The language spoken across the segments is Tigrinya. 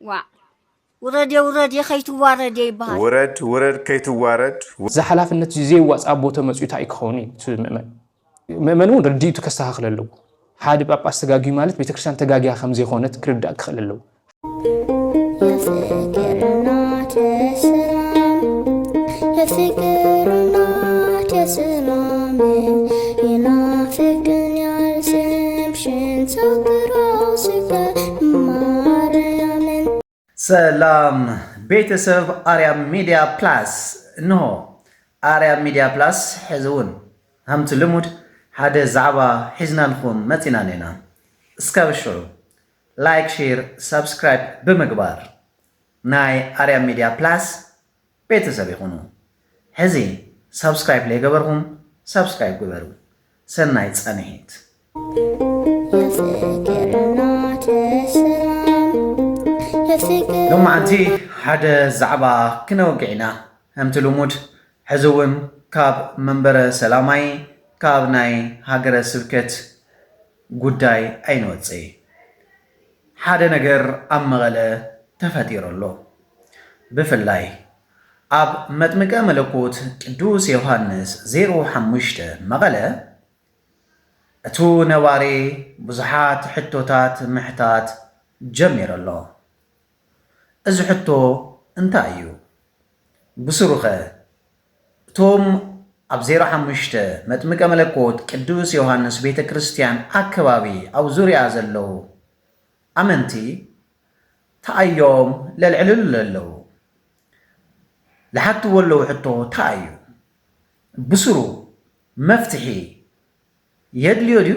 ዋእ ውረዴ ውረዴ ከይትዋረዴ ይብሃል። ውረድ ውረድ ከይትዋረድ። እዚ ሓላፍነት እዚ ዘየዋጽእ ኣቦ ተመጽዩ ታይ ክኸውን እዩ እቲ ምእመን? ምእመን እውን ርድኢቱ ከስተኻኽል ኣለዎ። ሓደ ጳጳስ ተጋግዩ ማለት ቤተክርስትያን ተጋግያ ከም ዘይኮነት ክርዳእ ክኽእል ኣለዎ። የፍቅርና ተስማም የፍቅርና ተስማም ይናፍቅን ያልስምሽን ሳክራው ስፈ ማርያምን ሰላም ቤተሰብ ኣርያም ሚድያ ፕላስ እንሆ ኣርያም ሚድያ ፕላስ ሕዚ እውን ሃምቲ ልሙድ ሓደ ዛዕባ ሒዝናልኩም መፂና እኔና እስካብ ሽዑ ላይክ ሼር ሳብስክራይብ ብምግባር ናይ ኣርያም ሚድያ ፕላስ ቤተሰብ ይኹኑ ሕዚ ሳብስክራይብ ለይገበርኹም ሳብስክራይብ ግበሩ ሰናይ ፃንሒት። ሎማዓንቲ ሓደ ዛዕባ ክነውግዕ ኢና ከምቲ ልሙድ ሕዚ እውን ካብ መንበረ ሰላማይ ካብ ናይ ሃገረ ስብከት ጉዳይ ኣይንወፅይ። ሓደ ነገር ኣብ መቐለ ተፈጢሩ ኣሎ። ብፍላይ ኣብ መጥምቀ መለኮት ቅዱስ ዮሃንስ ዜሮ ሓሙሽተ መቐለ እቱ ነባሪ ብዙሓት ሕቶታት ምሕታት ጀሚሩ ኣሎ። እዚ ሕቶ እንታይ እዩ? ብሱሩኸ እቶም ኣብ ዜሮ ሓሙሽተ መጥምቀ መለኮት ቅዱስ ዮሃንስ ቤተ ክርስቲያን ኣከባቢ ኣብ ዙርያ ዘለዉ ኣመንቲ ተኣዮም ለልዕልሉ ለለዉ ልሓትዎ ኣለዉ ሕቶ ታይ እዩ ብስሩ መፍትሒ የድልዮ ድዩ?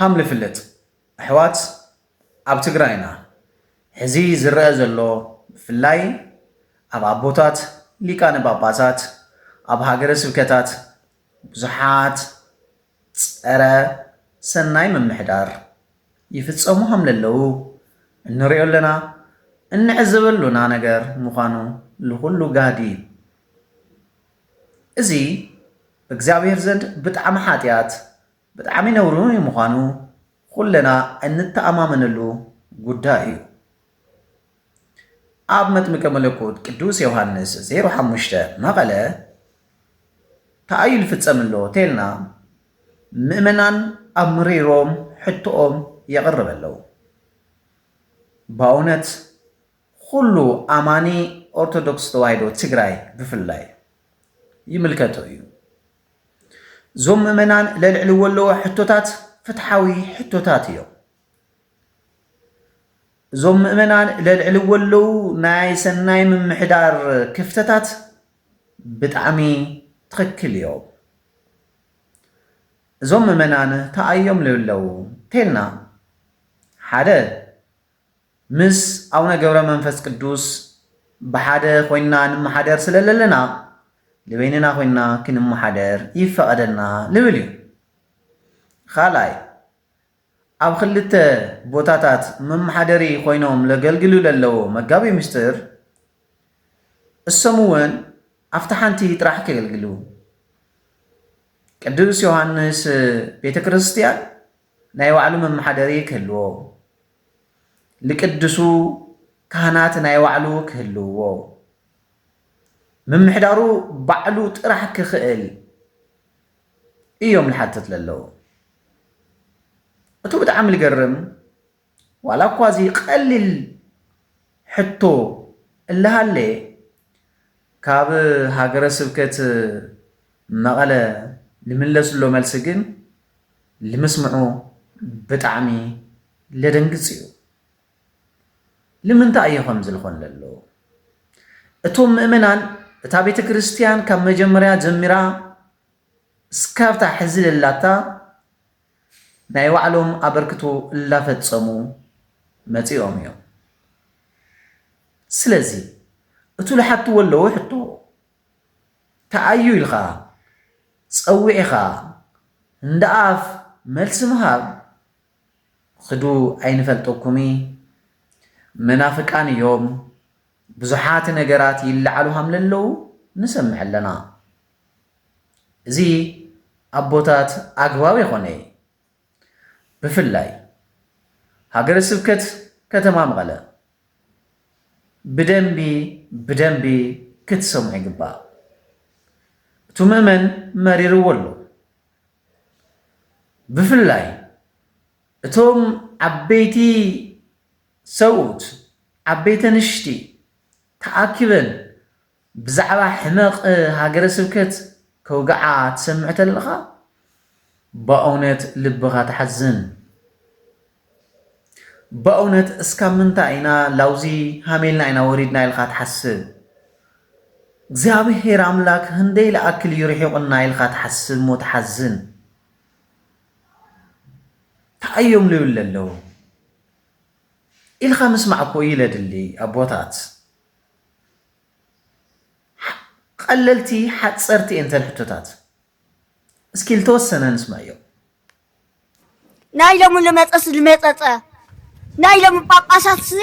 ሃም ልፍለጥ ኣሕዋት ኣብ ትግራይና ሕዚ ዝረኣ ዘሎ ብፍላይ ኣብ ኣቦታት ሊቃነ ጳጳሳት ኣብ ሃገረ ስብከታት ብዙሓት ጸረ ሰናይ ምምሕዳር ይፍጸሙ ሃም ለለዉ እንርእዮ ኣለና እንዕዘበሉና ነገር ምዃኑ ልኹሉ ጋህዲ እዩ። እዚ ብእግዚኣብሔር ዘንድ ብጣዕሚ ሓጢኣት ብጣዕሚ ነውሪ ምዃኑ ኹለና እንተኣማመነሉ ጉዳይ እዩ። ኣብ መጥምቀ መለኮት ቅዱስ ዮሃንስ ዜሮ ሓሙሽተ መቐለ ታኣዩ ልፍጸም ኣሎ ተልና ምእመናን ኣብ ምሪሮም ሕቶኦም የቕርብ ኣለው። ባውነት ኹሉ ኣማኒ ኦርቶዶክስ ተዋሂዶ ትግራይ ብፍላይ ይምልከቶ እዩ። እዞም ምእመናን ለልዕልዎ ኣለዎ ሕቶታት ፍትሓዊ ሕቶታት እዮም። እዞም ምእመናን ለልዕልዎ ኣለዉ ናይ ሰናይ ምምሕዳር ክፍተታት ብጣዕሚ ትኽክል እዮም። እዞም ምእመናን ተኣዮም ልብለው እንተልና ሓደ ምስ ኣቡነ ገብረ መንፈስ ቅዱስ ብሓደ ኮይንና ንመሓደር ስለ ለለና ንበይንና ኮይንና ክንመሓደር ይፈቐደልና ልብል እዩ። ኻልኣይ ኣብ ኽልተ ቦታታት መመሓደሪ ኮይኖም ለገልግሉ ለለዎ መጋቢ ምስጢር እሶም እውን ኣብቲ ሓንቲ ጥራሕ ከገልግሉ ቅዱስ ዮሃንስ ቤተ ክርስቲያን ናይ ባዕሉ መመሓደሪ ክህልዎ፣ ልቅድሱ ካህናት ናይ ባዕሉ ክህልውዎ፣ ምምሕዳሩ ባዕሉ ጥራሕ ክኽእል እዮም ልሓትት ለለዉ። እቱ ብጣዕሚ ልገርም ዋላ እኳ እዚ ቐሊል ሕቶ እላሃለየ ካብ ሃገረ ስብከት መቐለ ልምለስሎ መልሲ ግን ልምስምዑ ብጣዕሚ ለደንግፅ እዩ። ልምንታይ እዩ ከምዚ ልኾን ለሎ? እቶም ምእመናን እታ ቤተ ክርስትያን ካብ መጀመርያ ጀሚራ እስካብታ ሕዚ ለላታ ናይ ባዕሎም ኣበርክቶ እላፈፀሙ መፂኦም እዮም። ስለዚ እቱ ልሓትዎ ኣለዉ ሕቶ ተኣዩ ኢልኻ ፀዊዕኻ እንዳኣፍ መልሲ ምሃብ ኽዱ ኣይንፈልጠኩሚ መናፍቃን እዮም ብዙሓት ነገራት ይላዓሉ ሃምለለዉ ንሰምዕ ኣለና። እዚ ኣቦታት ኣግባብ የኾነይ ብፍላይ ሃገረ ስብከት ከተማ መቐለ ብደንቢ ብደንቢ ክትሰምዑ ይግባእ። እቱ ምእመን መሪርዎ ኣሎ። ብፍላይ እቶም ዓበይቲ ሰብኡት ዓበይቲ ኣንሽቲ ተኣኪበን ብዛዕባ ሕመቕ ሃገረ ስብከት ከውግዓ ትሰምዕ ተለኻ በእውነት ልብኻ ተሓዝን። በእውነት እስካብ ምንታይ ኢና ላውዚ ሃሜልና ኢና ወሪድና ኢልካ ትሓስብ። እግዚኣብሔር ኣምላክ ህንደይ ልኣክል እዩ ርሒቑና ኢልካ ትሓስብ እሞ ትሓዝን። ታይ እዮም ልብል ለለዉ ኢልካ ምስማዕ እኮ እዩ ለድሊ ኣቦታት። ቀለልቲ ሓፀርቲ እየን እተን ሕቶታት እስኪ ዝተወሰነ ንስማዮ ናይ ሎሚ ልመፀስ ልመፀፀ ናይ ሎሚ ጳጳሳት ሲ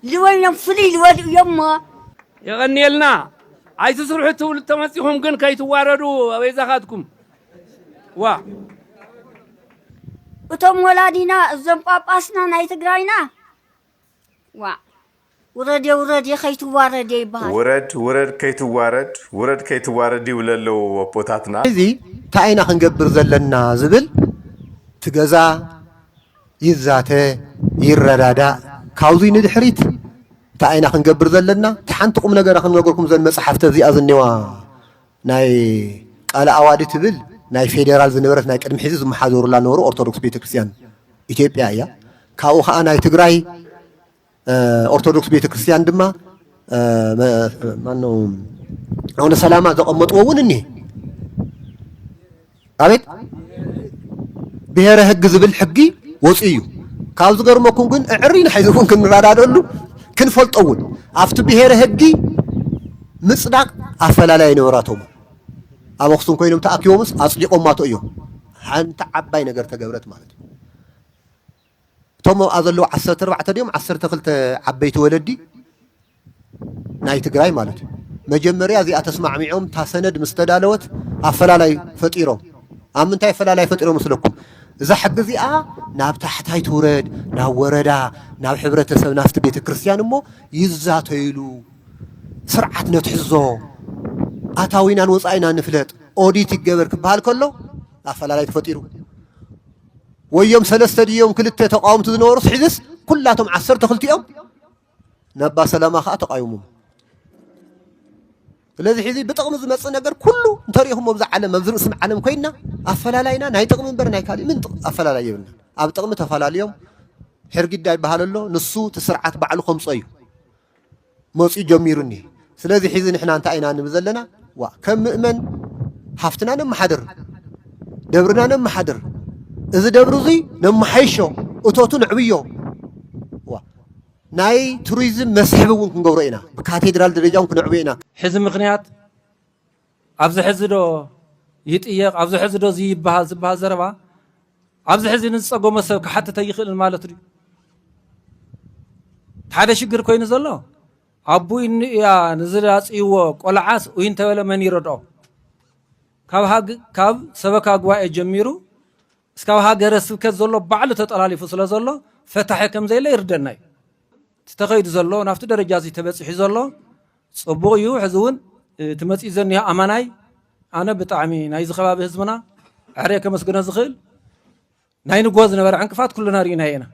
ልወይኖም ፍልይ ልበሉ እዮም እሞ የቐንየልና ኣይትስርሑ ትብሉ ተመፂኹም ግን ከይትዋረዱ ኣበይዛኻትኩም ዋ እቶም ወላዲና እዞም ጳጳስና ናይ ትግራይና ዋእ ውረዴ ውረዴ ከይትዋረዴ ይበሃል። ውረድ ውረድ ከይትዋረድ ውረድ ከይትዋረድ ይብሉ ኣለዉ ኣቦታትና። ሕዚ ታይ ኢና ክንገብር ዘለና ዝብል እቲ ገዛ ይዛተ ይረዳዳእ ካብዙይ ንድሕሪት ታይ ኢና ክንገብር ዘለና እቲ ሓንቲ ቁምነገር ክንነግርኩም እዘን መፅሓፍተ እዚኣ ዝኒዋ ናይ ቃለ ኣዋዲ ትብል ናይ ፌዴራል ዝነበረት ናይ ቅድሚ ሕዚ ዝመሓደሩላ ነበሩ ኦርቶዶክስ ቤተ ክርስቲያን ኢትዮጵያ እያ። ካብኡ ከዓ ናይ ትግራይ ኦርቶዶክስ ቤተ ክርስቲያን ድማ ማነው ኣቡነ ሰላማ ዘቐመጥዎ እውን እኒሀ ኣቤት ብሄረ ህግ ዝብል ሕጊ ወፅዩ እዩ ካብ ዝገርመኩም ግን እዕሪና ሕዚ እውን ክንረዳደሉ ክንፈልጦ እውን ኣብቲ ብሄረ ህጊ ምፅዳቅ ኣፈላላይ ነበራቶም ኣብ ኣክሱም ኮይኖም ተኣኪቦምስ ኣፅዲቆማቶ እዮም ሓንቲ ዓባይ ነገር ተገብረት ማለት እዩ እቶም ኣብኣ ዘለዉ ዓሰርተ ኣርባዕተ ድዮም ዓሰርተ ክልተ ዓበይቲ ወለዲ ናይ ትግራይ ማለት እዩ መጀመርያ እዚኣ ተስማዕሚዖም እታ ሰነድ ምስ ተዳለወት ኣፈላላይ ፈጢሮም ኣብ ምንታይ ኣፈላላይ ፈጢሮም መስለኩም እዛ ሕጊ እዚኣ ናብ ታሕታይ ትውረድ ናብ ወረዳ ናብ ሕብረተሰብ ናብቲ ቤተ ክርስቲያን እሞ ይዛተይሉ ስርዓት ነትሕዞ ኣታዊናን ወፃኢና ንፍለጥ ኦዲት ይገበር ክበሃል ከሎ ኣፈላላይ ተፈጢሩ ወዮም ሰለስተ ድዮም ክልተ ተቃወምቲ ዝነበሩስ ሕዝስ ኩላቶም ዓሰርተ ክልቲኦም ናባ ሰላማ ከዓ ተቃዩሞም ስለዚ ሕዚ ብጥቕሚ ዝመፅእ ነገር ኩሉ እንተሪኢኹም ኣብዚ ዓለም ኣብዚ ርእስም ዓለም ኮይና ኣፈላላይና ናይ ጥቕሚ እምበር ናይ ካሊእ ምን ኣፈላላይ የብልና ኣብ ጥቕሚ ተፈላለዮም ሕርጊዳ ይበሃል ኣሎ ንሱ እቲ ስርዓት ባዕሉ ከምፆ እዩ መጺኡ ጀሚሩ እኒሀ። ስለዚ ሕዚ ንሕና እንታይ ኢና ንብል ዘለና? ዋእ ከም ምእመን ሃፍትና ነመሓድር፣ ደብርና ነመሓድር፣ እዚ ደብሪ እዙይ ነመሓይሾ፣ እቶቱ ነዕብዮ፣ ናይ ቱሪዝም መስሕብ እውን ክንገብሮ ኢና፣ ብካቴድራል ደረጃ እውን ክነዕብዮ ኢና። ሕዚ ምኽንያት ኣብዚ ሕዚ ዶ ይጥየቕ ኣብዚ ሕዚ ዶ እዚ ይበሃል ዝበሃል ዘረባ ኣብዚ ሕዚ ንዝፀገሞ ሰብ ክሓትት ኣይኽእልን ማለት ድዩ? ሓደ ሽግር ኮይኑ ዘሎ ኣቡ ኢኑ እያ ንዝላፅይዎ ቆልዓስ ኡይ እንተበለ መን ይረድኦ? ካብ ሰበካ ጉባኤ ጀሚሩ እስካብ ሃገረ ስብከት ዘሎ ባዕሉ ተጠላሊፉ ስለ ዘሎ ፈታሒ ከም ዘየለ ይርደና እዩ። እቲ ተኸይዱ ዘሎ ናብቲ ደረጃ እዚ ተበፂሑ ዘሎ ጽቡቅ እዩ ሕዚ ውን እቲ መጺኡ ዘኒሆ ኣማናይ ኣነ ብጣዕሚ ናይዚ ከባቢ ህዝብና ዕሬ ከመስግኖ ዝኽእል ናይ ንግሆ ዝነበረ ዕንቅፋት ኩልና ርኢናዮ ኢና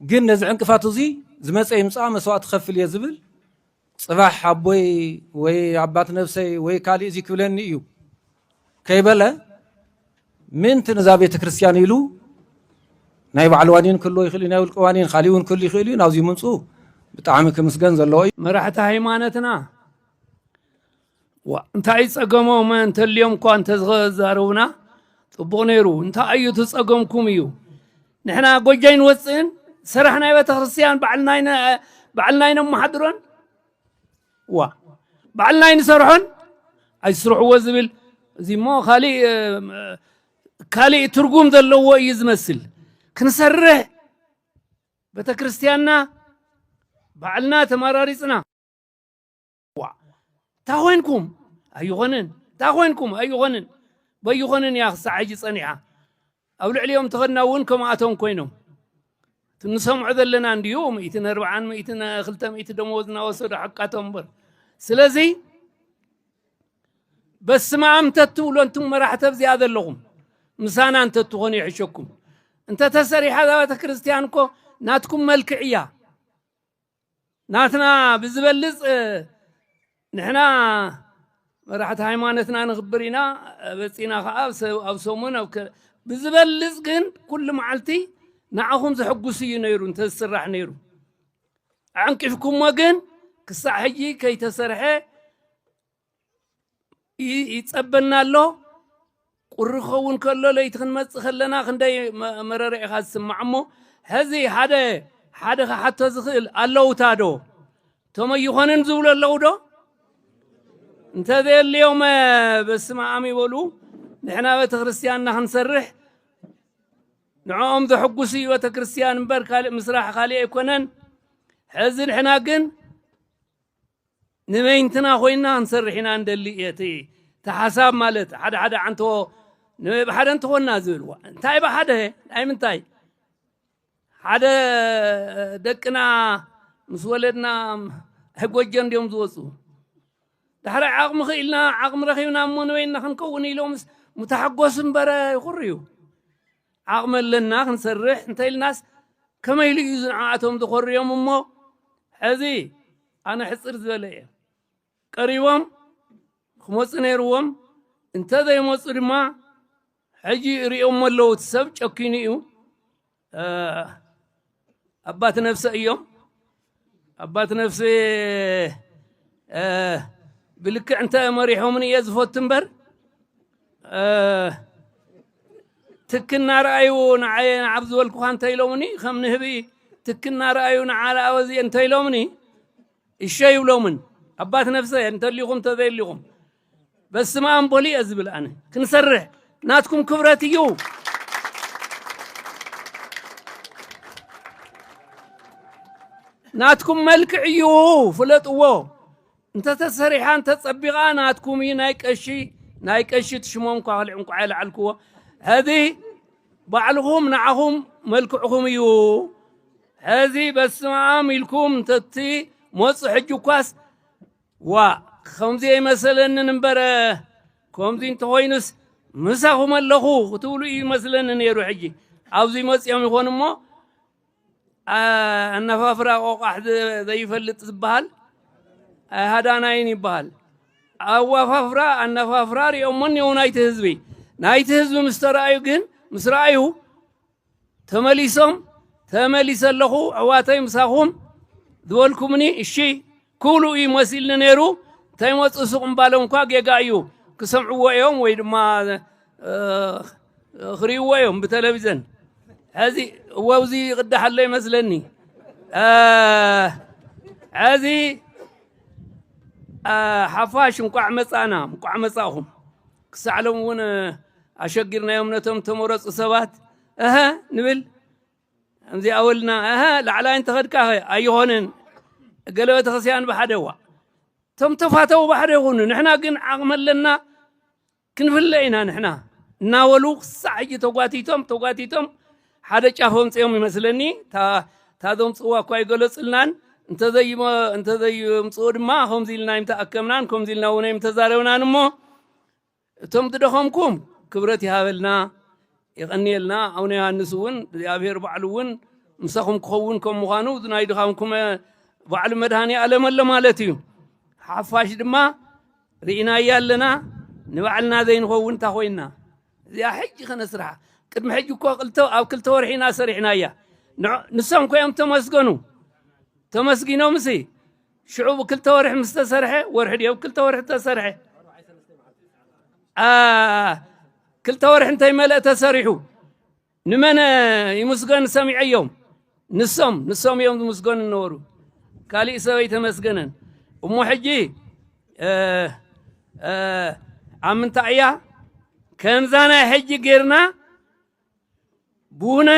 ግን ነዚ ዕንቅፋት እዙይ ዝመፀ ይምፃእ መስዋእቲ ክኸፍል እየ ዝብል ፅባሕ ኣቦይ ወይ ኣባት ነብሰይ ወይ ካሊእ እዚ ክብለኒ እዩ ከይበለ ምእንቲ ነዛ ቤተ ክርስቲያን ኢሉ ናይ ባዕሉ ዋኒን ክህልዎ ይኽእል እዩ፣ ናይ ውልቀ ዋኒን ካሊእ እውን ክህሉ ይኽእል እዩ። ናብዚ ምምፅኡ ብጣዕሚ ክምስገን ዘለዎ እዩ። መራሕቲ ሃይማኖትና እንታይ እዩ ፀገሞም እንተልዮም እኳ እንተዘረቡና ፅቡቕ ነይሩ። እንታይ እዩ ትፀገምኩም እዩ ንሕና ጎጃይ ንወፅእን ስራሕ ናይ ቤተ ክርስቲያን ባዕልና ኢና ነመሓድሮን ዋእ ባዕልና ኣይንሰርሖን ኣይስርሕዎ ዝብል እዚ እሞ ካሊእ ትርጉም ዘለዎ እዩ ዝመስል ክንሰርሕ ቤተ ክርስቲያንና ባዕልና ተመራሪፅና ዋ እንታ ኮንኩም ኣይኾንን እንታ ኮንኩም ኣይኾንን በይኾንን እያ ክሳዕ ሕጂ ፀኒሓ ኣብ ልዕሊኦም ተኸድና እውን ከምኣቶም ኮይኖም እቲ ንሰምዖ ዘለና እንድዩ ምእትን ኣርብዓን ምእትን ክልተ ምእቲ ደመወዝ እናወሰዱ ሓቃቶም እምበር ስለዚ በስመ ኣም ተትብሎ እንቱም መራሕቲ ኣብዚኣ ዘለኹም ምሳና እንተትኾኑ ይሕሸኩም እንተተሰሪሓ እዛ ቤተ ክርስቲያን እኮ ናትኩም መልክዕ እያ ናትና ብዝበልፅ ንሕና መራሕቲ ሃይማኖትና ንኽብር ኢና በፂና ከዓ ኣብ ሰሙን ኣብ ብዝበልፅ ግን ኩሉ መዓልቲ ንዓኹም ዘሕጉስ እዩ ነይሩ እንተዝስራሕ ነይሩ ኣዕንቂፍኩሞ ግን ክሳዕ ሕጂ ከይተሰርሐ ይጸበና ኣሎ ቁሪ ክኸውን ከሎ ለይቲ ክንመፅእ ከለና ክንደይ መረረ ኢኻ ዝስማዕ እሞ ሕዚ ሓደ ሓደ ክሓቶ ዝኽእል ኣለውታ ዶ እቶም ኣይኾንን ዝብሉ ኣለዉ ዶ እንተዘየልዮም በስመ ኣም ይበሉ ንሕና ቤተ ክርስቲያንና ክንሰርሕ ንዕኦም ዘሐጉስ እዩ ቤተ ክርስቲያን እምበር ካልእ ምስራሕ ካልእ ኣይኮነን ሕዚ ንሕና ግን ንበይንትና ኮይንና ክንሰርሕ ኢና ንደሊ እየ እቲ እቲ ሓሳብ ማለት ሓደ ሓደ ዓንቶ ብሓደ እንተኾንና ዝብል እንታይ ብሓደ ናይ ምንታይ ሓደ ደቅና ምስ ወለድና ኣይ ጎጆ እንዲዮም ዝወፁ ዳሕራይ ዓቕሚ ክኢልና ዓቕሚ ረኺብና እሞ ንበይንና ክንከውን ኢሎምስ ምተሓጎስ እምበረ ይኹርዩ ዓቕሚ ኣለና ክንሰርሕ እንተኢልናስ ከመይ ኢሉ እዩ እዚ ንዓኣቶም ዘኾርዮም እሞ ሕዚ ኣነ ሕፅር ዝበለ እየ ቀሪቦም ክመፁ ነይርዎም እንተዘይመፁ ድማ ሕጂ ይርእዮሞ ኣለዉ እቲ ሰብ ጨኪኑ እዩ ኣባት ነፍሰ እዮም። ኣባት ነፍሰ ብልክዕ እንተ መሪሖምን እየ ዝፈቱ እምበር ትክ እናረኣዩ ንዓየ ንዓብ ዝበልኩኻ እንተ ኢሎምኒ ከም ንህቢ ትክ እናረኣዩ ንዓለኣወዚ እንተ ኢሎምኒ እሸ ይብሎምን ኣባት ነፍሰ እንተሊኹም እንተዘየሊኹም በስማኣም በሉ እየ ዝብል ኣነ ክንሰርሕ ናትኩም ክብረት እዩ ናትኩም መልክዕ እዩ ፍለጥዎ እንተተሰሪሓ እንተፀቢቓ ናትኩም እዩ ናይ ቀሺ ናይ ቀሺ ትሽሞም እኳ ክልዕ እንኳ የለዓልክዎ ሕዚ ባዕልኹም ንዓኹም መልክዕኹም እዩ ሕዚ በስመኣም ኢልኩም እንተቲ መፁ ሕጂ እኳስ ዋእ ከምዚ ኣይመሰለንን እምበረ ከምዚ እንተኾይኑስ ምሳኹም ኣለኹ ክትብሉ እዩ ይመስለኒ ነይሩ ሕጂ ኣብዚ መፅኦም ይኾን እሞ ኣነፋፍራ ቆቋሕ ዘይፈልጥ ዝበሃል ሃዳናይን ይበሃል ኣዋፋፍራ ኣነፋፍራ ሪኦሞ እኒው ናይቲ ህዝቢ ናይቲ ህዝቢ ምስ ተረኣዩ ግን ምስ ረኣዩ ተመሊሶም ተመሊሰ ኣለኹ ኣሕዋተይ ምሳኹም ዝበልኩምኒ እሺ ክብሉ እዩ መሲልኒ ነይሩ እንተይመፁ ሱቕ ምባሎም እኳ ጌጋ እዩ ክሰምዕዎ እዮም ወይ ድማ ክሪእዎ እዮም ብተለቪዘን ሕዚ ወብዚ ይቕዳሕ ኣሎ ይመስለኒ ሕዚ ሓፋሽ እንቋዕ መፃእና እንቋዕ መፃእኹም ክሳዕ ሎሚ እውን ኣሸጊርናዮም ነቶም ተመረፁ ሰባት እሀ ንብል ከምዚ ኣወልና እሀ ላዕላይ እንተኸድካ ኣይኾንን እገለ ቤተክርስቲያን ብሓደዋ እቶም ተፋተው ባሕደ ይኹኑ ንሕና ግን ዓቕሚ ኣለና ክንፍለ ኢና ንሕና እናበሉ ክሳዕ ሕጂ ተጓቲቶም ተጓቲቶም ሓደ ጫፍ ኣምጺኦም ይመስለኒ እታ እታ ዘምጽእዋ እኳ ኣይገለጹልናን እንተዘይምጽኡ ድማ ከምዚ ኢልና እዮም ተኣከብናን ከምዚ ኢልና እውን እዮም ተዛረብናን እሞ እቶም ዝደኸምኩም ክብረት ይሃበልና የቐንየልና ኣቡነ ዮሃንስ እውን እግዚኣብሔር ባዕሉ እውን ምሳኹም ክኸውን ከም ምዃኑ እዚ ናይ ድኻምኩም ባዕሉ መድሃኒ ኣለመሎ ማለት እዩ ሓፋሽ ድማ ርኢናያ ኣለና ንባዕልና ዘይንኸውን እንታ ኮይና እዚኣ ሕጂ ከነስርሓ ቅድሚ ሕጂ እኮ ኣብ ክልተ ወርሒ ኢና ሰሪሕናያ ንሶም ኮዮም ተመስገኑ ተመስጊኖም ሲ ሽዑ ብክልተ ወርሒ ምስ ተሰርሐ ወርሒ ድዮ ብክልተ ወርሒ ተሰርሐ ክልተ ወርሒ እንተይመልአ ተሰሪሑ ንመን ይምስገን ሰሚዐዮም ንሶም ንሶም እዮም ዝምስገኑ ነበሩ ካሊእ ሰብ ኣይተመስገነን እሞ ሕጂ ኣብ ምንታይ እያ ከምዛ ናይ ሕጂ ጌርና ብውነ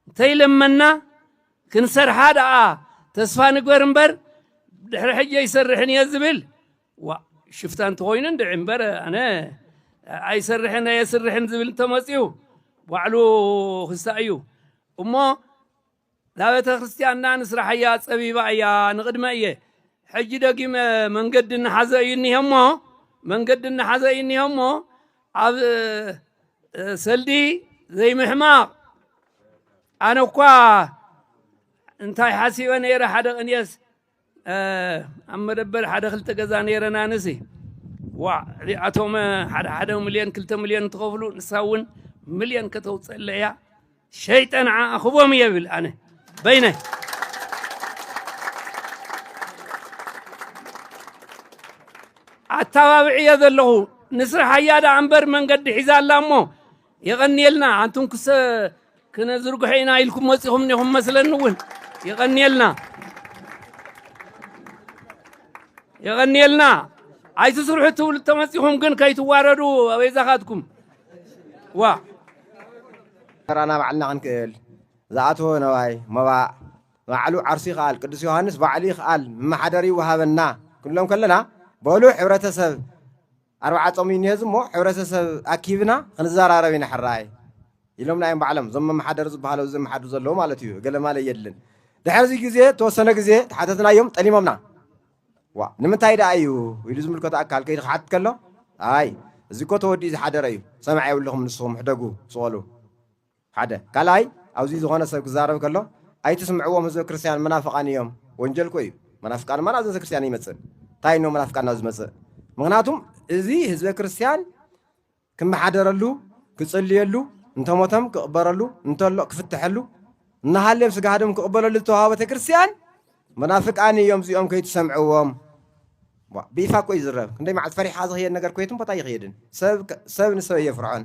እንተይለመና ክንሰርሓ ደኣ ተስፋ ንግበር እምበር ድሕሪ ሕጂ ኣይሰርሕን እየ ዝብል ዋእ ሽፍታ እንተኾይኑ እንድዒ እምበር ኣነ ኣይሰርሕን ኣየስርሕን ዝብል እንተመፅዩ ባዕሉ ክሳእ እዩ እሞ እዛ ቤተ ክርስቲያንና ንስራሕያ ፀቢባ እያ ንቕድመ እየ ሕጂ ደጊመ መንገዲ እናሓዘ እዩ እኒሀ እሞ መንገዲ እናሓዘ እዩ እኒሀ እሞ ኣብ ሰልዲ ዘይምሕማቕ ኣነ እኳ እንታይ ሓሲበ ነይረ ሓደ ቅንየስ ኣብ መደበር ሓደ ክልተ ገዛ ነይረን ኣነሲ ዋዕ እዚኣቶም ሓደ ሓደ ሚልዮን ክልተ ሚልዮን ትኸፍሉ ንሳ እውን ሚልዮን ከተውፅእለ እያ ሸይጠ ንዓ ኣኽቦም እየ ብል ኣነ በይነይ ኣተባብዕ እየ ዘለኹ ንስራሕ እያ ደኣ እምበር መንገዲ ሒዛ ኣላ እሞ የቐንየልና ኣንቱም ክሰ ክነዝርግሖ ኢና ኢልኩም መፂኹም እኒኹም መስለኒ እውን የቐንየልና የቐንየልና ኣይትስርሑ ትብሉ ተመፂኹም ግን ከይትዋረዱ ኣበይዛኻትኩም ዋ ተራና ባዕልና ክንክእል ዝኣተወ ነዋይ መባእ ባዕሉ ዓርሱ ይኽኣል ቅዱስ ዮሃንስ ባዕሉ ይኽኣል መማሓደሪ ይወሃበና ክንብሎም ከለና በሉ ሕብረተሰብ ኣርብዓ ጾም እዩ እኒሀ እዚ እሞ ሕብረተሰብ ኣኪብና ክንዘራረብ ኢና ሕራይ ኢሎምና እዮም ባዕሎም እዞም መመሓደሪ ዝበሃሉ ኣብዚ ዘመሓድሩ ዘለዉ ማለት እዩ እገለማለ የድልን ድሕሪ እዚ ግዜ ተወሰነ ግዜ ተሓተትናዮም ጠሊሞምና ዋ ንምንታይ ደኣ እዩ ኢሉ ዝምልከቶ ኣካል ከይዲ ክሓትት ከሎ ኣይ እዚ እኮ ተወዲኡ ዝሓደረ እዩ ሰማዕ የብልኹም ንስኹም ሕደጉ ስቐሉ ሓደ ካልኣይ ኣዚ ዝኮነ ሰብ ክዛረብ ከሎ ኣይትስምዕዎም ህዝበ ክርስትያን መናፍቃን ኢዮም ወንጀልኮ ኢዩ መናፍቃን እማ ናብዘ ክርስትያን ይመጽእ ታይ ን መናፍቃን ናብ ዝመጽእ ምክናቱም እዚ ህዝበ ክርስትያን ክመሓደረሉ ክጽልየሉ እንተሞተም ክቅበረሉ እንተሎ ክፍተሐሉ እናሃልም ስጋ ሃደም ክቅበለሉ ዝተዋሃቦ ቤተክርስትያን መናፍቃን ኢዮም እዚኦም ከይትሰምዕዎም ብይፋ እኮ ይዝረብ ክንደይ መዓልቲ ፈሪሕካ ዝኽየድ ነገር ኮየትን ቦታ ይኽየድን ሰብ ንሰብ እየፍርዖን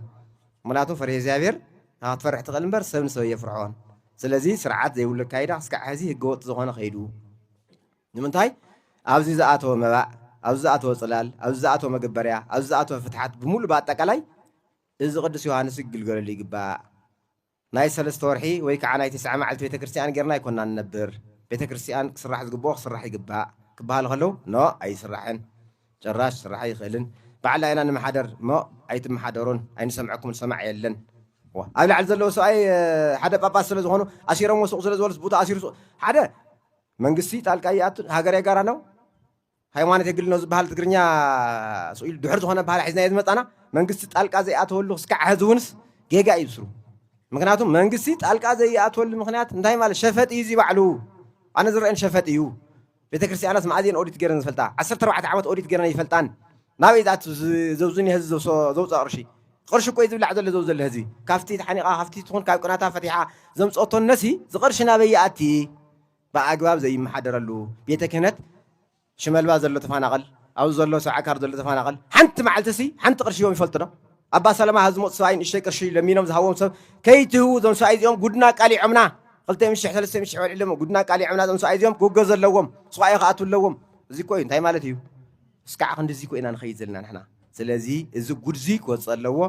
ምኽንያቱ ፈሪሀ እግዚኣብሔር ካብ ትፈርሕ ትኽእል እምበር ሰብ ንሰብ ኣየፍርሖን ስለዚ ስርዓት ዘይብሉ ኣካይዳ ክስካዕ ሐዚ ህገወጥ ዝኾነ ከይዱ ንምንታይ ኣብዚ ዝኣተወ መባእ ኣብዚ ዝኣተወ ፅላል ኣብዚ ዝኣተወ መገበርያ ኣብዚ ዝኣተወ ፍትሓት ብምሉእ ብኣጠቃላይ እዚ ቅዱስ ዮሃንስ ክግልገለሉ ይግባእ ናይ ሰለስተ ወርሒ ወይ ከዓ ናይ ትስዓ መዓልቲ ቤተ ክርስቲያን ጌርና ኣይኮና ንነብር ቤተ ክርስቲያን ክስራሕ ዝግብኦ ክስራሕ ይግባእ ክበሃሉ ከለው ኖ ኣይስራሕን ጭራሽ ስራሕ ኣይኽእልን ባዕልና ኢና ንመሓደር እሞ ኣይትመሓደሩን ኣይንሰምዐኩምን ሰማዒ የለን ዋእ ኣብ ላዕሊ ዘለዉ ሰብኣይ ሓደ ጳጳስ ስለ ዝኾኑ ኣሲሮምዎ ሱቕ ስለ ዝበሉስ ቡታ ኣሲሩ ሱቕ ሓደ መንግስቲ ጣልቃ ይኣቱን ሃገር የጋራ ነው ሃይማኖት የግል ነው ዝበሃል ትግርኛ ስኢሉ ድሑር ዝኾነ ባህላ ሒዝናዮ ዝመጻና መንግስቲ ጣልቃ ዘይኣተወሉ ክስካዕ ሕዚ እውንስ ጌጋ እዩ ዝስሩ ምክንያቱ መንግስቲ ጣልቃ ዘይኣትወሉ ምክንያት እንታይ ማለት ሸፈጥ እዩ እዚ ባዕሉ ኣነ ዝረአን ሸፈጥ እዩ ቤተክርስትያናስ መኣዝ እየን ኦዲት ገይረን ዝፈልጣ ዓሰርተ ኣርባዕተ ዓመት ኦዲት ገይረን ኣይፈልጣን ናበይ እዩ ዝኣቱ ዘብዙኒያ ህዝቢ ዘውፅኦ ቅርሺ ቕርሺ እኮ እዩ ዝብላዕ ዘሎ ዘው ዘሎ ህዝቢ ካብቲ ተሓኒቓ ካብቲ ትኹን ካብ ቅናታ ፈቲሓ ዘምፀኦቶ እነሲ ዝቕርሺ ናበይ ይኣቲ ብኣግባብ ዘይመሓደረሉ ቤተ ክህነት ሽመልባ ዘሎ ተፋናቐል ኣብዚ ዘሎ ሰብዓ ካር ዘሎ ተፋናቐል ሓንቲ መዓልትሲ ሓንቲ ቅርሺ እዮም ይፈልጡ ዶ ኣባ ሰላማ ሐዚ ዝመፁ ሰብኣይ ንእሽተይ ቅርሺ ለሚኖም ዝሃብዎም ሰብ ከይትህቡ እዞም ሰብኣይ እዚኦም ጉድና ኣቃሊዖምና ክልተ ሚእቲ ሽሕ ሰለስተ ሚእቲ ሽሕ በልዒሎሞ ጉድና ኣቃሊዖምና እዞም ሰብኣይ እዚኦም ክውገዙ ኣለዎም ሱቓኤ ክኣትዉ ኣለዎም እዚ እኮ እዩ እንታይ ማለት እዩ እስካዕ ክንድዚ እኮ ኢና ንኸይድ ዘለና ንሕና ስለዚ እዚ ጉድዚ ክወፅእ ኣለዎ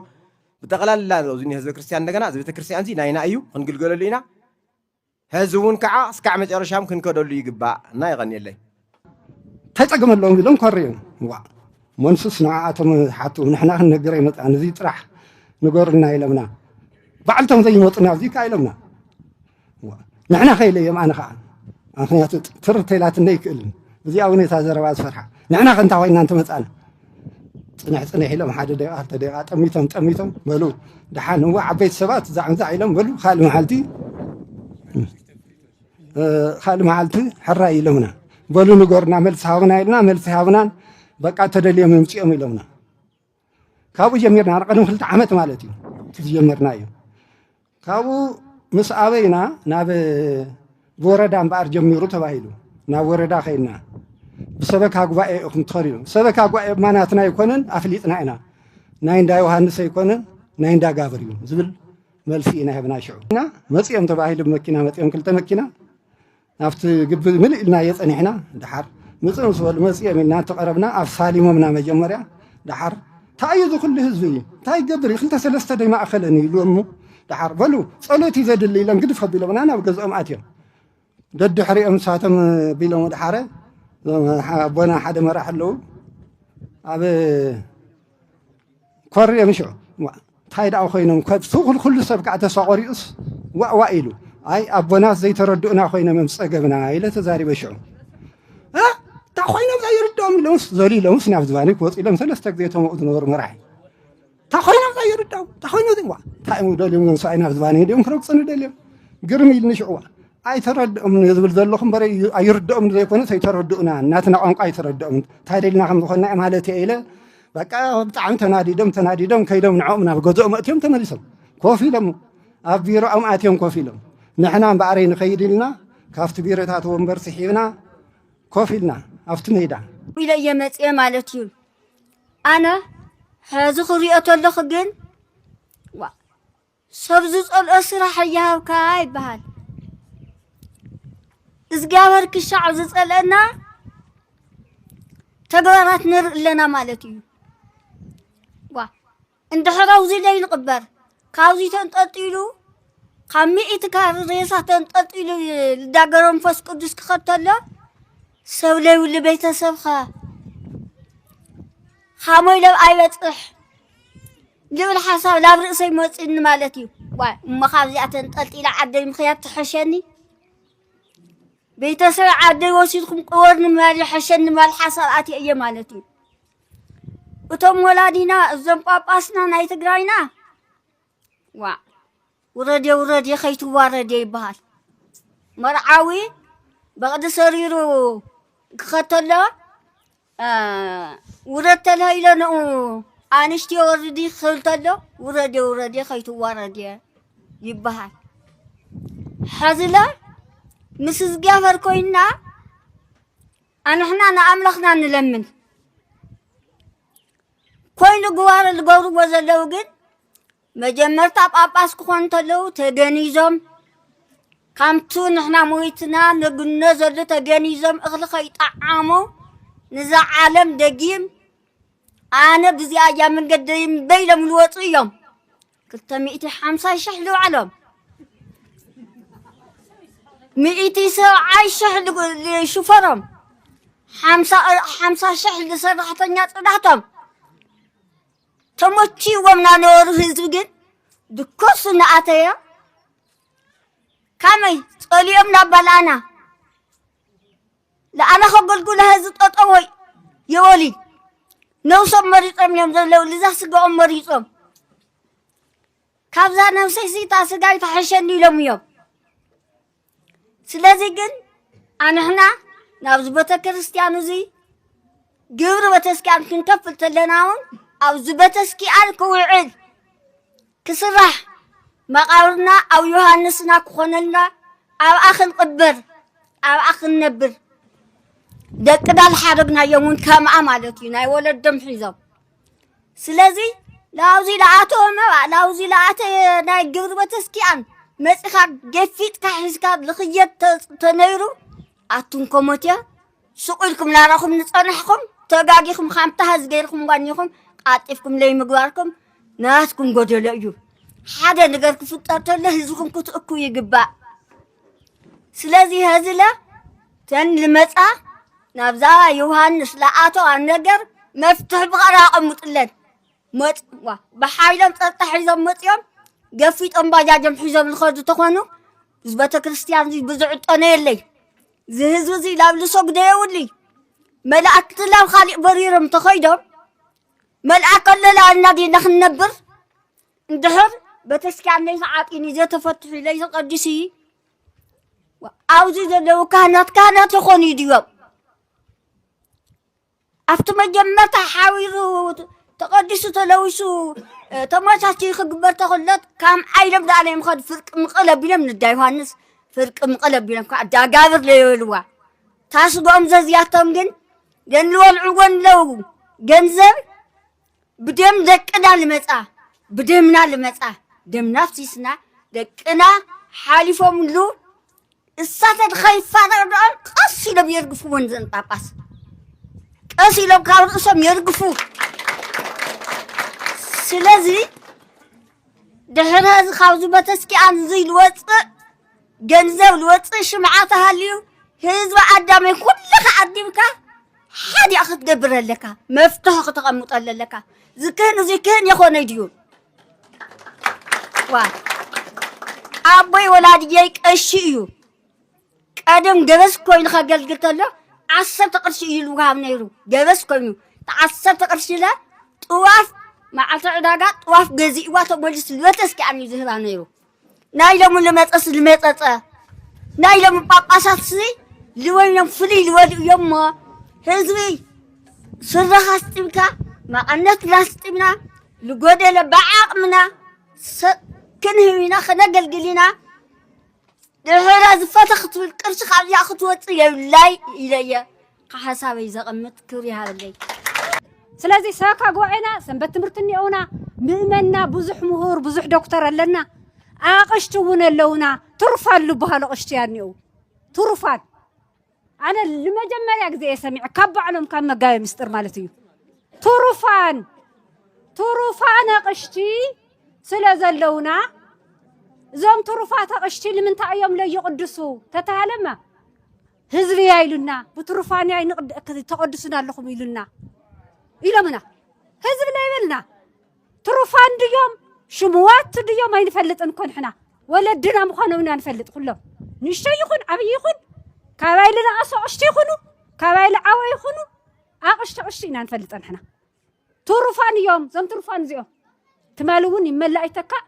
ብጠቕላላ እዚ ህዝበ ክርስቲያን እንደገና እዚ ቤተ ክርስቲያን እዚ ናይና እዩ ክንግልገለሉ ኢና ሀዚ እውን ከዓ እስካዕ መጨረሻም ክንከደሉ ይግባእ እና የቀንየለይ። ተጸግመሎም ግን ደንኮር እዮም ዋእ መንሱስ ንዓኣቶም ሓቱ ንሕና ክንነግር ኣይመጻእን እዚ ጥራሕ ንገሩልና ኢለምና ባዕልቶም ዘይመጹ ናብዚ ከኣ ኢለምና ንሕና ከኢለዮም ኣነ ከኣ ምክንያቱ ትርተይላትኒ ኣይክእልን እዚኣ እውን እታ ዘረባ ዝፈርሓ ንሕና ከ እንታይ ኮይና እንተመጻእና ፅንሕ ፅንሕ ኢሎም ሓደ ደቂቃ ክልተ ደቂቃ ጠሚቶም ጠሚቶም በሉ ደሓን እዋ ዓበይቲ ሰባት ዛዕንዛዕ ኢሎም በሉ ካልእ መዓልቲ ካልእ መዓልቲ ሕራይ ኢሎምና በሉ ንገሩና መልሲ ሃቡና ኢልና መልሲ ሃቡናን በቃ ተደልዮም ይምፅኦም ኢሎምና ካብኡ ጀሚርና ቅድሚ ክልተ ዓመት ማለት እዩ እቲ ዝጀመርና እዩ ካብኡ ምስ ኣበይና ናብ ወረዳ እምበኣር ጀሚሩ ተባሂሉ ናብ ወረዳ ከይድና ብሰበካ ጉባኤ ኢኹም ትኸዱ ኢሎም ሰበካ ጉባኤ ድማ ናትና ኣይኮነን ኣፍሊጥና ኢና ናይ እንዳ ዮሃንስ ኣይኮነን ናይ እንዳ ጋብር እዩ ዝብል መልሲ ኢና ሂብና ሽዑ እና መፅኦም ተባሂሉ መኪና መፅኦም ክልተ መኪና ናብቲ ግቢ ምልእ ኢልናዮ ጸኒሕና ደሓር ምጽእ ምስ በሉ መጺኦም ኢልና እንተቐረብና ኣሳሊሞምና መጀመርያ ደሓር እንታይ እዩ እዚ ኩሉ ህዝቢ እዩ እንታይ ይገብር እዩ ክልተ ሰለስተ ደይ ማእኸለን እዩ ኢሉ እሞ ደሓር በሉ ጸሎት እዩ ዘድሊ ኢሎም ግድፍ ኣቢሎምና ናብ ገዝኦም ኣትዮም ደድሕሪኦም ንሳቶም ቢሎም ወድሓረ ኣቦና ሓደ መራሕ ኣለዉ ኣብ ኮርዕ ኢሎም ሽዑ ዋእ እንታይ ደኣ ኮይኖም ኩሉ ኩሉ ሰብ ከዓ ተስፋ ቆሪፁስ ዋእ ዋእ ኢሉ ኣይ ኣቦናስ ዘይተረድኡና ኮይኖም እዮም ፀገምና ኢለ ተዛሪበ ሽዑ እ እንታይ ኮይኖም ዘይርድኦም ኢሎምስ ዘሉ ኢሎምስ ናብ ዝባነይ ክወፁ ኢሎም ሰለስተ ግዜ ተመኡ ዝነበሩ መራሒ እንታይ ኮይኖም ዘይርድኦም እንታይ ኮይኑ እዚ ዋ እንታይ እዮም ደልዮም እዮም ሰብኣይ ናብ ዝባነይ ድኦም ክረግፅኒ ደልዮም ግርም ኢልኒ ሽዑ ዋ ኣይተረድኦም ዝብል ዘለኹ እምበር ኣይርድኦም ዘይኮነስ ኣይተረድኡና እናትና ቋንቋ ኣይተረድኦም እንታይ ደልና ከም ዝኾንና ማለት እየ ኢለ በቃ ብጣዕሚ ተናዲዶም ተናዲዶም ከይዶም ንዕኦም ናብ ገዝኦም ኣእትዮም ተመሊሶም ኮፍ ኢሎም ኣብ ቢሮኦም ኣትዮም ኮፍ ኢሎም ንሕና እምበኣረይ ንኸይድ ኢልና ካብቲ ቢሮታት ወንበር ስሒብና ኮፍ ኢልና ኣብቲ ሜዳ ኢለየ መፅኤ ማለት እዩ ኣነ ሕዚ ክሪኦ ተለኹ ግን ሰብ ዝጸልኦ ስራሕ እያሃብካ ይበሃል እግዚኣብሔር ክሻዕ ዝጸልአና ተግባራት ንርኢ ኣለና ማለት እዩ ዋ እንድሕር ኣውዚ ዘይንቕበር ካብዚ ተንጠልጢሉ ካብ ሚእቲ ካር ሬሳ ተንጠልጢሉ ልዳገረ መንፈስ ቅዱስ ክኸተሎ ሰብ ለይብሉ ቤተሰብኸ ሃሞይ ለው ኣይበፅሕ ልብል ሓሳብ ናብ ርእሰይ መፂኡኒ ማለት እዩ ዋይ እሞ ካብዚኣ ተንጠልጢለ ዓደይ ምኽያድ ትሐሸኒ ቤተሰብ ዓደይ ወሲድኩም ቅበርኒ ምባል ይሐሸኒ ምባል ሓሳብ ኣትየ እየ ማለት እዩ እቶም ወላዲና እዞም ጳጳስና ናይ ትግራይና ዋ ውረዴ ውረዴ ከይትዋረዴ ይበሃል መርዓዊ በቕዲ ሰሪሩ ክኸተሎ ውረድ ተላኢለ ንኡ ኣንሽትዮ ወርዲ ክብል ተሎ ውረድየ ውረድየ ከይትዋረድየ ይበሃል ሐዝለ ምስ እግዚኣብሔር ኮይና ኣንሕና ንኣምላኽና ንለምን ኮይኑ ግዋረ ዝገብርዎ ዘለዉ ግን መጀመርታ ጳጳስ ክኾኑ ተለዉ ተገኒዞም ካምቱ ንሕና ሞይትና ነግኖ ዘሉ ተገኒዞም እኽሊ ከይጠዓሙ ንዛ ዓለም ደጊም ኣነ ብዚኣ እያ መንገደይ በይሎም ልወፁ እዮም ክልተ ሚእቲ ሓምሳ ሽሕ ልውዓሎም ሚእቲ ሰብዓይ ሽሕ ልሽፈሮም ሓምሳ ሽሕ ልሰራሕተኛ ፅዳቶም ተሞቺዎም ናነበሩ ህዝቢ ግን ድኮሱ እናኣተዮ ካመይ ጸልዮም ናባልኣና ለኣና ከገልጉለ ህዝቢ ጠጠዎ የወሊ ነውሶም መሪጾም እዮም ዘለዉ ልዛ ስጋኦም መሪጾም ካብዛ ነብሰይ ስታ ስጋይ ተሐሸኒ ኢሎም እዮም ስለዚ ግን ኣንሕና ናብዚ ቤተ ክርስቲያን እዚ ግብሪ ቤተስኪያን ክንከፍል ተለና እውን ኣብዚ ቤተስኪያን ክውዕል ክስራሕ መቃብርና ኣብ ዮሃንስና ክኾነልና ኣብኣ ክንቕበር ኣብኣ ክንነብር ደቂ ዳል ሓረግናዮም እውን ከምኣ ማለት እዩ ናይ ወለዶም ሒዞም ስለዚ ናብዚ ለኣተወ መባእ ናብዚ ለኣተ ናይ ግብሪ ቤተስኪያን መጺኻ ገፊጥካ ሒዝካ ዝኽየድ ተ- ተነይሩ ኣቱም ኮሞትያ ሱቕ ኢልኩም ናራኹም ንጸናሕኩም ተጋጊኹም ሓምታ ህዝ ገይርኩም ዋኒኹም ቃጢፍኩም ለይምግባርኩም ናትኩም ጎደሎ እዩ ሓደ ነገር ክፍጠር ተሎ ህዝብኹም ክትእኩ ይግባእ ስለዚ ሀዝለ ተን ልመጻ ናብዛ ዮሃንስ ለኣቶ ኣነገር መፍትሒ ብቐር ኣቐምጡለን መጽዋ ብሓይሎም ጸጥታ ሒዞም መጽዮም ገፊጦም ባጃጆም ሒዞም ዝኸዱ ተኾኑ እዚ ቤተ ክርስቲያን እዚ ብዝዕጠነ የለይ እዚ ህዝቢ እዚ ናብ ልሶግደ የብሉይ መላእክቲ ናብ ካሊእ በሪሮም ተኸይዶም መልኣከ ኣለላ እናዴና ክንነብር እንድሕር ቤተስኪያነይ ዝዓጢኒ ዘተፈትሑ ኢለይ ዝቐድሲ ኣብዚ ዘለዉ ካህናት ካህናት ይኾኑ ድዮም? ኣብቲ መጀመርታ ሓዊሩ ተቐዲሱ ተለዊሱ ተመቻች ክግበር ተኽለት ካም ዓይለም ዳነ ምኸድ ፍርቂ ምቕል ኣቢሎም ንዳ ዮሃንስ ፍርቂ ምቕል ኣቢሎም ከዓ ዳጋብር ለየልዋ ታስጎም ዘዝያቶም ግን ገንልወልዑ ጎንለው ገንዘብ ብደም ደቅና ልመጻ ብደምና ልመጻ ደምና ኣፍሲስና ደቅና ሓሊፎምሉ እሳተ ንኸይፋነው ደኦም ቀስ ኢሎም የርግፍዎን ዘን ጳጳስ ቀስ ኢሎም ካብ ርእሶም የርግፉ ስለዚ ድሕሪ እዚ ካብዚ በተስኪኣን እዚ ልወፅእ ገንዘብ ዝወጽእ ሽምዓ ተሃልዩ ህዝቢ ኣዳመይ ኩልኻ ኣዲምካ ሓዲኣ ክትገብር ኣለካ መፍትሒ ክተቐምጠሉ ኣለካ ዝክህን እዚ ክህን የኾነይ ድዩ ዋ ኣቦይ ወላድየይ ቀሺ እዩ ቀደም ገበስ ኮይኑ ከገልግል ተሎ ዓሰርተ ቅርሺ እዩ ልውሃብ ነይሩ ገበስ ኮይኑ ዓሰርተ ቅርሺ ለ ጥዋፍ መዓልቲ ዕዳጋ ጥዋፍ ገዚእዋ ተመሊሱ ልበተስኪኣን እዩ ዝህባ ነይሩ ናይ ሎሚ ልመጸስ ልመጸጸ ናይ ሎሚ ጳጳሳትሲ ልወይኖም ፍልይ ልበሉ እዮም እሞ ህዝቢ ስረኻ ኣስጢምካ መቐነት ላስጢምና ልጎደለ ብዓቕምና ክንህብ ኢና ክነገልግል ኢና ድሕረ ዝፈተ ክትብል ቅርሺ ካብዚኣ ክትወፅእ የብላይ ኢለየ ሓሳበይ ዘቐምጥ ክብሪ ይሃበለይ። ስለዚ ሰበካ ጉባኤና ሰንበት ትምህርቲ እኒኦውና፣ ምእመንና ብዙሕ ምሁር ብዙሕ ዶክተር ኣለና፣ ኣቕሽቲ እውን ኣለውና፣ ትሩፋን ልብሃሉ ኣቕሽቲ እያ እኒኦው ትሩፋን ኣነ ንመጀመርያ ግዜ እየ ሰሚዐ ካብ ባዕሎም ካብ መጋቤ ምስጢር ማለት እዩ ትሩፋን ትሩፋን ኣቕሽቲ ስለ ዘለውና እዞም ትሩፋት ኣቕሽቲ ንምንታይ እዮም ለይቕድሱ ተተሃለማ ህዝቢ እያ ኢሉና ብትሩፋን እያ ተቐድሱና ኣለኹም ኢሉና ኢሎምና ህዝቢ ናይ በልና ትሩፋን ድዮም ሽሙዋት ድዮም ኣይንፈልጥን እኮ ንሕና ወለድና ምዃኖም ኢና ንፈልጥ ኩሎም ንእሽተይ ይኹን ዓብይ ይኹን ካባይ ልነኣሱ ኣቕሽቲ ይኹኑ ካባይ ልዓወ ይኹኑ ኣቕሽቲ ኣቕሽቲ ኢና ንፈልጥ ንሕና ትሩፋን እዮም እዞም ትሩፋን እዚኦም ትማሊ እውን ይመላእ ይተካእ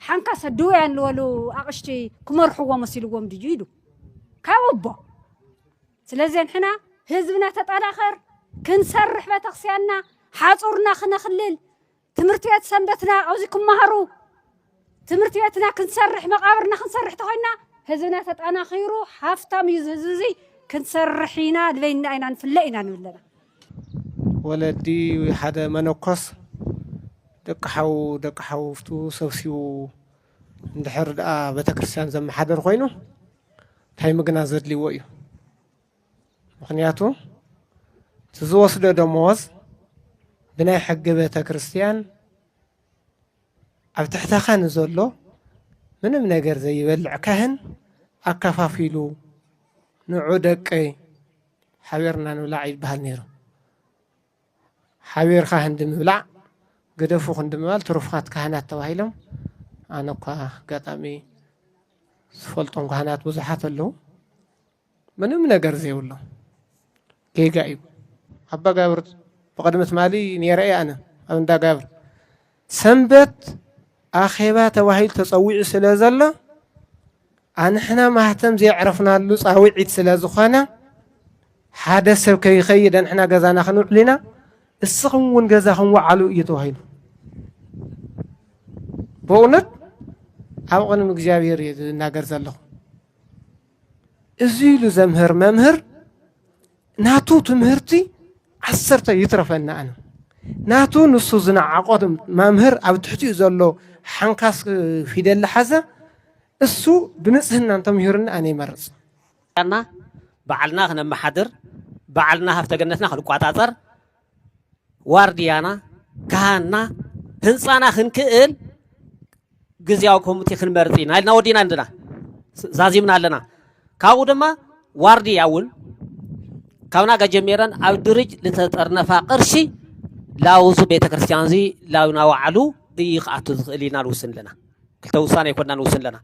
ሓንካሰ ድውያን ልበሉ ኣቕሽቲ ክመርሕዎ መሲልዎም ድዩ ኢሉ ካብ ኣቦ ስለዚ ንሕና ህዝብና ተጠናኸር ክንሰርሕ ቤተክርስቲያንና ሓፁርና ክነኽልል ትምህርቲ ቤት ሰንበትና ኣብዚ ክመሃሩ ትምህርቲ ቤትና ክንሰርሕ መቃብርና ክንሰርሕ ተኮይና ህዝብና ተጠናኺሩ ሃፍታም እዩ ህዝቢ እዚ ክንሰርሕ ኢና ድበይና ኢና ንፍለ ኢና ንብለና ወለዲ ወይ ሓደ መነኮስ ደቂ ሓው ደቂ ሓወብቱ ሰብሲቡ እንድሕር ደኣ ቤተክርስትያን ዘመሓድር ኮይኑ እንታይ ምግናዝ ዘድልይዎ እዩ? ምኽንያቱ እቲ ዝወስዶ ደመወዝ ብናይ ሕጊ ቤተክርስትያን ኣብ ትሕተ ካህን ዘሎ ምንም ነገር ዘይበልዕ ካህን ኣከፋፊሉ ንዑ ደቀይ ሓቢርና ንብላዕ ይበሃል ነይሩ። ሓቢርካ ህንዲ ምብላዕ ግደፉ ክንዲ ምባል ትሩፋት ካህናት ተባሂሎም ኣነ እኳ ኣጋጣሚ ዝፈልጦም ካህናት ብዙሓት ኣለዉ። ምንም ነገር ዘይብሎም ጌጋ እዩ። ኣባ ጋብር ብቕድሚ ትማሊ ነይረ እየ ኣነ ኣብ እንዳ ጋብር ሰንበት ኣኼባ ተባሂሉ ተጸዊዑ ስለ ዘሎ ኣንሕና ማህተም ዘየዕረፍናሉ ጻውዒት ስለ ዝኾነ ሓደ ሰብ ከይኸይድ ኣንሕና ገዛና ክንውዕል ኢና፣ እስኹም እውን ገዛኹም ወዓሉ እዩ ተባሂሉ። በእውነት ኣብ ቅድሚ እግዚኣብሔር እዩ ዝናገር ዘለኹ። እዚ ኢሉ ዘምህር መምህር ናቱ ትምህርቲ ዓሰርተ ይትረፈና ኣነ ናቱ ንሱ ዝነዓቆ መምህር ኣብ ትሕቲኡ ዘሎ ሓንካስ ፊደል ዝሓዘ እሱ ብንጽህና እንተምሂሩኒ ኣነ ይመርጽ ና በዓልና ክነመሓድር በዓልና ሃፍተ ገነትና ክንቋጻጸር ዋርድያና ካህንና ህንፃና ክንክእል ግዜያዊ ኮሚቴ ክንመርፅ ኢና ኢልና ወዲና እንድና ዛዚምና ኣለና ካብኡ ድማ ዋርድያ እውን ካብ ናጋ ጀሚረን ኣብ ድርጅ ዝተጠርነፋ ቅርሺ ላውዚ ቤተ ክርስቲያን እዚ ላውና ዋዕሉ እዩ ክኣቱ ዝኽእል ኢልና ንውስን ኣለና ክልተ ውሳነ ይኮና ንውስን ኣለና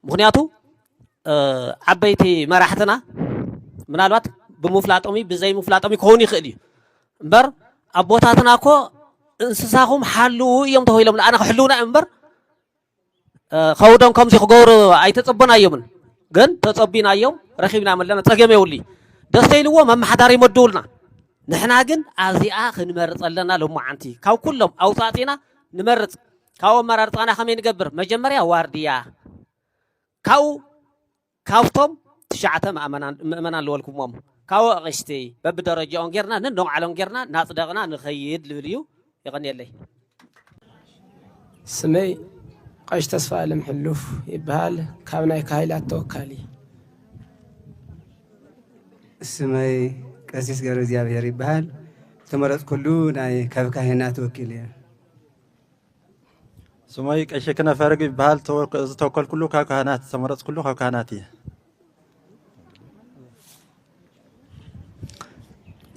ምኽንያቱ ዓበይቲ መራሕትና ምናልባት ብምፍላጦም እዩ ብዘይምፍላጦም ክኸውን ይኽእል እዩ እምበር ኣቦታትና እኮ እንስሳኹም ሓልዉ እዮም ተባሂሎም ንኣና ክሕልውና እዮም እምበር ከውዶም ከምዚ ክገብሩ ኣይተፀበናዮምን ግን ተፀቢናዮም ረኺብና መለና ፀገም የብሉ ደስተ ኢልዎ መመሓዳሪ ይመድቡልና ንሕና ግን ኣዚኣ ክንመርፅ ኣለና ሎማዓንቲ ካብ ኩሎም ኣውፃእፂና ንመርፅ ካብኡ ኣመራርፃና ከመይ ንገብር? መጀመርያ ዋርድያ ካብኡ ካብቶም ትሽዓተ ምእመናን ዝበልኩሞም ካብኡ ኣቕሽቲ በብደረጃኦም ጌርና ነንባዕሎም ጌርና ናፅደቕና ንኸይድ ልብል እዩ። የቐንየለይ። ስመይ ቐሽ ተስፋኣለም ሕሉፍ ይበሃል ካብ ናይ ካህይላት ተወካሊ። ስመይ ቀሲስ ገብረእግዚኣብሄር ይበሃል ዝተመረፅኩሉ ናይ ካብ ካህናት ወኪል እየ። ስመይ ቀሺ ክነፈርግ ይበሃል ዝተወከልኩሉ ካብ ካህናት ዝተመረፅኩሉ ካብ ካህናት እየ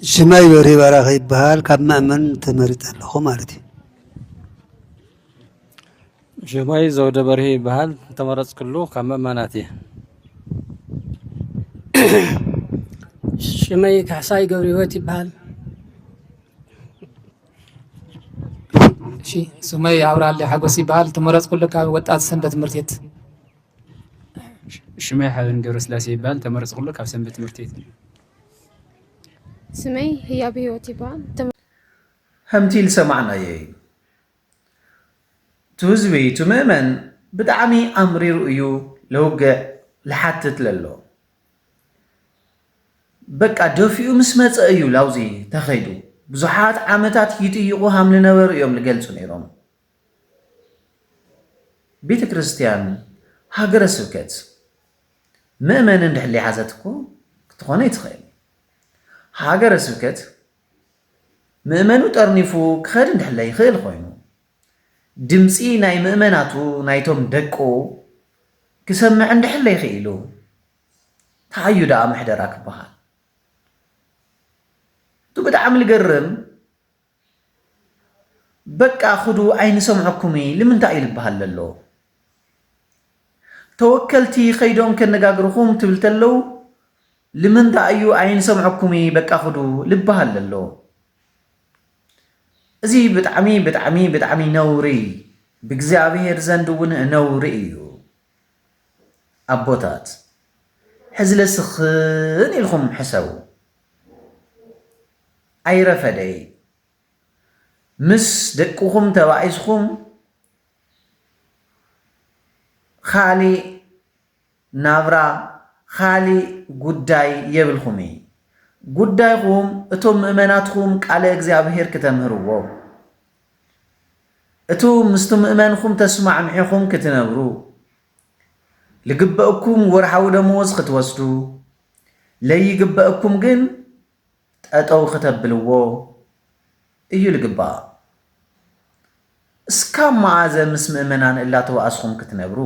ሽመይ በሪ በራኺ ይበሃል ካብ መእመን ተመሪጠ ኣለኹ ማለት እዩ ሽመይ ዘውደ በርሂ ይበሃል ተመረፅኩሉ ካብ መእመናት እየ ሽመይ ካሕሳይ ገብረ ህይወት ይበሃል እሺ ስመይ ኣብራሊ ሓጎስ ይበሃል ተመረፅኩሉ ካብ ወጣት ሰንበት ትምህርት ቤት ሽመይ ሓበን ገብረስላሴ ይበሃል ተመረፅኩሉ ካብ ሰንበት ትምህርት ቤት ስመይ ህያብ ህይወት ይበሃል ከምቲ ዝሰማዕናዮ እዩ እቲ ህዝቢ እቲ ምእመን ብጣዕሚ ኣምሪሩ እዩ ለውግዕ ልሓትት ለሎ በቃ ደፊኡ ምስ መጸ እዩ ላብዚ ተኸይዱ። ብዙሓት ዓመታት ይጥይቑ ሃም ልነበሩ እዮም ልገልጹ ነይሮም። ቤተ ክርስቲያን ሃገረ ስብከት ምእመን እንድሕር ሊሓዘት እኮ ክትኾነ ይትኽእል ሃገረ ስብከት ምእመኑ ጠርኒፉ ክኸድ እንድሕለ ይኽእል ኮይኑ ድምፂ ናይ ምእመናቱ ናይቶም ደቁ ክሰምዕ እንድሕለ ይኽኢሉ ታዩ ደኣ ምሕደራ ክበሃል እቲ ብጣዕሚ ልገርም በቃ ክዱ ኣይንሰምዐኩም ልምንታይ እዩ ልበሃል ለሎ ተወከልቲ ከይዶም ከነጋግርኹም ትብል ተለው ልምንታይ እዩ ኣይንሰምዐኩም በቃ ክዱ ልበሃል ለሎ እዚ ብጣዕሚ ብጣዕሚ ብጣዕሚ ነውሪ ብእግዚኣብሔር ዘንድ እውን ነውሪ እዩ ኣቦታት ሕዝለ ስኽን ኢልኹም ሕሰቡ። ኣይረፈደይ ምስ ደቅኹም ተባኢስኹም ኻሊእ ናብራ ኻሊእ ጉዳይ የብልኹም እይ ጉዳይኹም እቶም ምእመናትኹም ቃለ እግዚኣብሔር ክተምህርዎም እቱ ምስቱ ምእመንኹም ተስማዕሚዕኹም ክትነብሩ፣ ልግበእኩም ወርሓዊ ደመወዝ ክትወስዱ፣ ለይግበእኩም ግን ጠጠው ክተብልዎ እዩ ልግባእ። እስካብ መኣዘ ምስ ምእመናን እላተባኣስኹም ክትነብሩ?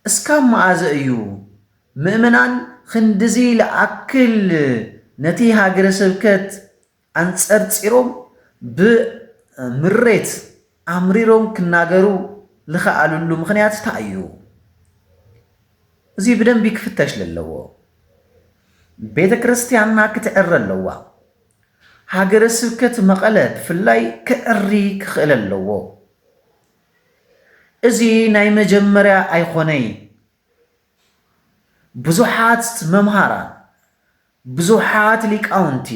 እስካብ መኣዘ እዩ ምእመናን ኽንድዚ ልኣክል ነቲ ሃገረ ስብከት ኣንጸርጺሮም ብምሬት ኣምሪሮም ክናገሩ ልኸኣልሉ ምኽንያት እንታይ እዩ? እዚ ብደንቢ ክፍተሽ ለለዎ። ቤተ ክርስቲያንና ክትዕረ ኣለዋ። ሃገረ ስብከት መቐለ ብፍላይ ክዕሪ ክኽእል ኣለዎ። እዚ ናይ መጀመርያ ኣይኾነይ። ብዙሓት መምሃራን ብዙሓት ሊቃውንቲ፣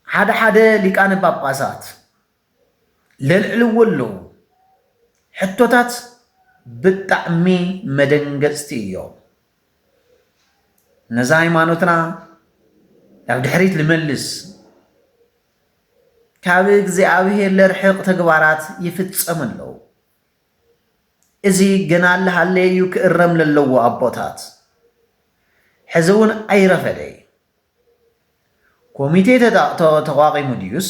ሓደ ሓደ ሊቃነ ጳጳሳት ለልዕልዎ ኣለዉ። ሕቶታት ብጣዕሚ መደንገጽቲ እዮም። ነዛ ሃይማኖትና ናብ ድሕሪት ልመልስ ካብ እግዚኣብሔር ለርሕቕ ተግባራት ይፍጸም ኣለዉ። እዚ ገና ኣለሃለየ እዩ ክእረም ለለዎ ኣቦታት ሕዚ እውን ኣይረፈደይ ኮሚቴ ተቋቂሙ ድዩስ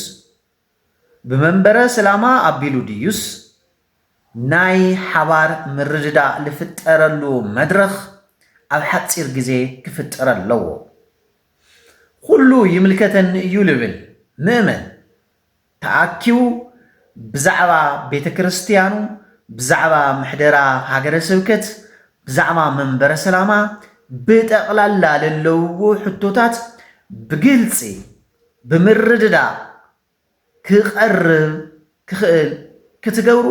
ብመንበረ ስላማ ኣቢሉ ድዩስ ናይ ሓባር ምርድዳእ ልፍጠረሉ መድረኽ ኣብ ሓፂር ግዜ ክፍጠረ ኣለዎ ኩሉ ይምልከተኒ እዩ ልብል ምእመን ተኣኪቡ ብዛዕባ ቤተ ክርስትያኑ፣ ብዛዕባ ምሕደራ ሃገረ ስብከት፣ ብዛዕባ መንበረ ሰላማ ብጠቕላላ ለለውዎ ሕቶታት ብግልጺ ብምርድዳእ ክቐርብ ክኽእል ክትገብሩ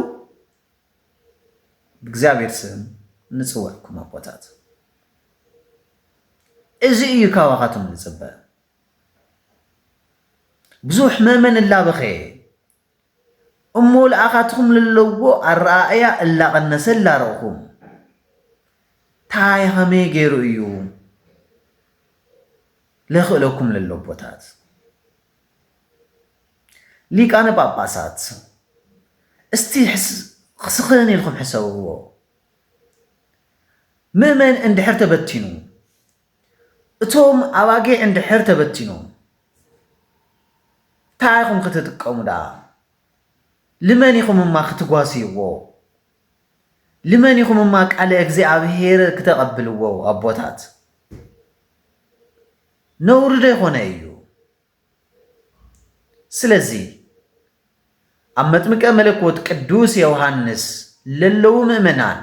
ብእግዚኣብሔር ስም ንጽውዕኩም ኣቦታት። እዚ እዩ ካባኻትም ንጽበ። ብዙሕ መመን እላበኸየ እሞ ለኣኻትኹም ለለዎ ኣረኣእያ እላቐነሰ እላረእኹም ታይ ኸመይ ገይሩ እዩ ለኽእለኩም ለሎ ቦታት ሊቃነ ጳጳሳት እስቲ ክስኽን ኢልኩም ሕሰብዎ ምእመን እንድሕር ተበቲኑ እቶም ኣባጊዕ እንድሕር ተበቲኖም እንታይ ኢኹም ክትጥቀሙ ደኣ? ልመን ኢኹም እማ ክትጓስይዎ? ልመን ኢኹም እማ ቃለ እግዚኣብሔር ክተቐብልዎ ኣቦታት? ነውሪ ዶ ይኾነ እዩ? ስለዚ ኣብ መጥምቀ መለኮት ቅዱስ ዮውሃንስ ለለዉ ምእመናን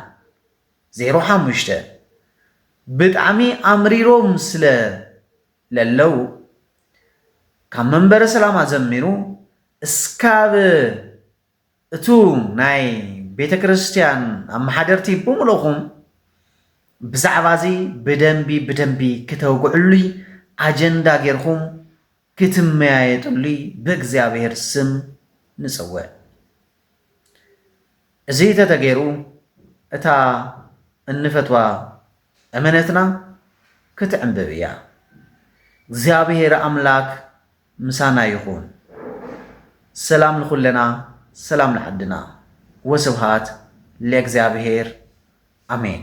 ዜሮ ሓሙሽተ ብጣዕሚ ኣምሪሮም ስለ ለለዉ ካብ መንበረ ሰላማ ዘሚሩ እስካብ እቱ ናይ ቤተ ክርስቲያን ኣመሓደርቲ ብምልእኹም ብዛዕባ እዚ ብደንቢ ብደንቢ ክተውግዕሉይ ኣጀንዳ ጌርኩም ክትመያየጥሉይ ብእግዚኣብሔር ስም ንጽውዕ። እዚ ተተገይሩ እታ እንፈትዋ እመነትና ክትዕንብብ እያ። እግዚኣብሔር ኣምላክ ምሳና ይኹን ሰላም ንኹለና ሰላም ንዓድና ወስብሃት ለእግዚኣብሔር ኣሜን።